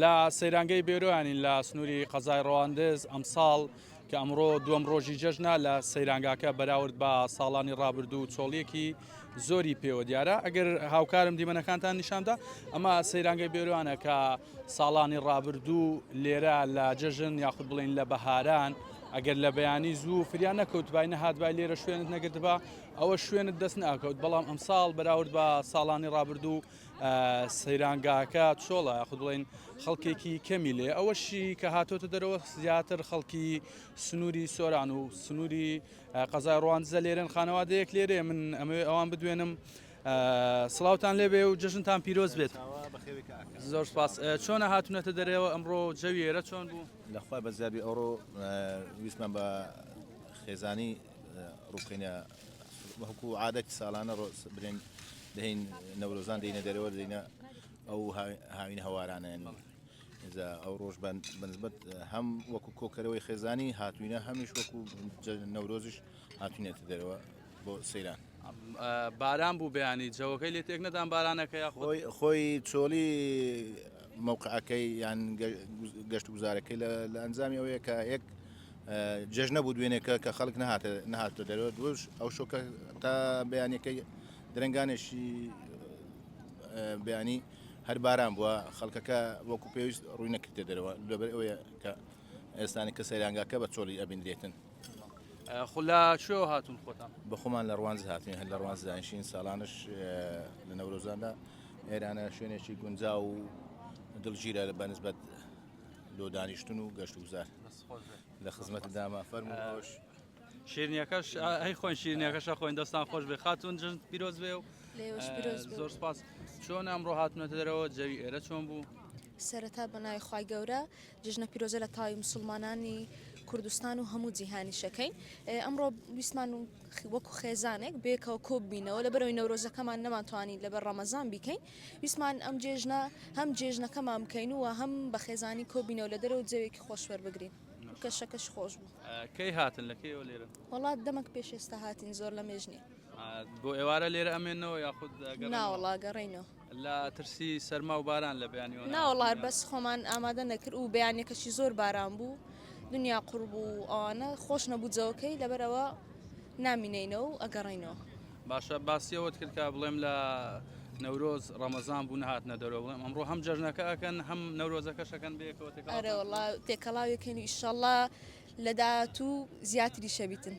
لە سەیرانگەی بێرۆیانین لە سنووری قەزای ڕەواندز ئەمساڵ کە ئەمڕۆ دووەم ڕۆژی جەژنە لە سەیرانگاکە بەراورد بە ساڵانی ڕابردوو چۆڵیەکی زۆری پێوە دیارە ئەگەر هاوکارم دیمەنەکانتان نیشاندا ئەمە سەیرانگەی بێرۆیانە کە ساڵانی ڕابردوو لێرە لە جەژن یاخود بڵین لە بەهاران ئەگەر لە بەیانی زوو فریان نەکەوتبای نەهاتبای لێرە شوێنت نەگرتبا ئەوە شوێنت دەست ناکەوت بەڵام ئەمساڵ بەراورد بە ساڵانی ڕابردوو سەیرانگاکە چۆڵە یاخود بڵین خەڵکێکی کەمی لێ ئەوەشی کە هاتۆتە دەرەوە زیاتر خەڵکی سنووری سۆران و سنووری قەزای ڕوانزە لێرن خانەوادەیەک لێرێ من ئەمەوێ ئەوان بدوێنم سڵاوان لێبێ و جژنتان پیرۆز بێت زۆر سپاس چۆنە هاتونەتە دەرەوە ئەمڕۆ جەویێرە چۆن بوو لەخوای بەزیابی ئەوڕۆ ویسمان بە خێزانی ڕووکەینە وەکو عادەت ساڵانە برێن دەین نەورۆزان دەینە دەرەوە دەینە ئەو هاوین هەوارانەیان ئێزا ئەو ڕۆژ بەنسبەت هەم وەکو کۆکەرەوەی خێزانی هاتوینە هەمیش وەکو نەورۆزیش هاتوینێتە دەرەوە بۆ سەیران باران بوو بەیانی جەوەکەی لێ تێک نەدان بارانەکەی خۆی خۆی چۆڵی مووقعەکەی یان گەشت گوزارەکەی لە ئەنجامی ئەوەیە کە یەک جێژنە بوو دوێنێکە کە خەڵک نەهاتە نەهاتە دەرەوە دوش ئەو شۆکە تا بەیانەکەی درنگانێکی بەیانی هەر باران بووە خەڵکەکە وەکو پێویست ڕووی نەکردێ دەرەوە لەبەر ئەوەیە کە ئێستانی کە سەیرانگاکە بە چۆڵی ئەبیندرێتن خلا شو هاتون خۆتان بەخۆمان لە ڕوانز هاتین هەر لە ڕوانز دانیشین ساڵانش لە نەورۆزاندا ئێرانە شوێنێکی گونجا و دڵگیرە لە بەنسبەت لۆ دانیشتن و گەشت وزار. لە خزمەتدامە فەرمو ئەوش شیرنیەکەش ئەی خۆن شیرنیەکەشە خۆین دەستان خۆش بێ خاتون جژن پیرۆز بێ و زۆر سپاس چۆن ئەمڕۆ هاتنەتە دەرەوە جەوی ئێرە چۆن بوو؟ سەرەتا بەناوی خی گەورە جژنە پیرۆزە لە تاوی مسلمانانی کوردستان و هەموو جیهانی شەکەین ئەمڕۆ ویسمان و وەکو خێزانێک بێکەوە کۆببینەوە لە بەرەوەی نەورۆزەکەمان نەمانتوانی لەبەر ڕەمەزان بیکەین ویستمان ئەم جێژنە هەم جێژنەکەمان بکەین و هەم بە خێزانی کۆبین و لە دەرەوە جەوێکی خۆش وەربگرین. کەشەکەش خۆش بوو. کەی هاتن لە کەیەوە لێرەن؟ وەڵا دەمەک پێش ئێستا هاتین زۆر لەمێژ نییە. بۆ ئێوارە لێرە ئەمێنەوە یاخود ئەگەڕێنەوە؟ ناوەڵا ئەگەڕێینەوە. لە ترسی سەرما و باران لە بەیانیوە؟ ناوەڵا بەس خۆمان ئامادە نەکرد و بەیانیەکەشی زۆر باران بوو دنیا قوڕ بوو ئەوانە خۆش نەبوو جەوەکەی لەبەرئەوە نامینێینە و ئەگەڕێینەوە. باشە باسی ئەوەت کرد کە بڵێم لە نەورۆز ڕەمەزان بوو نهاتنە دەرەوە بڵێم ئەمڕۆ هەم جەژنەکە ئەکەن هەم نەورۆزەکەشەکەن بێکەوە تێکەڵاوەکەن ئەرێ وەڵا تێکەڵاوێکەن ئیشەڵا لە داهاتوو زیاتری شەبیتن.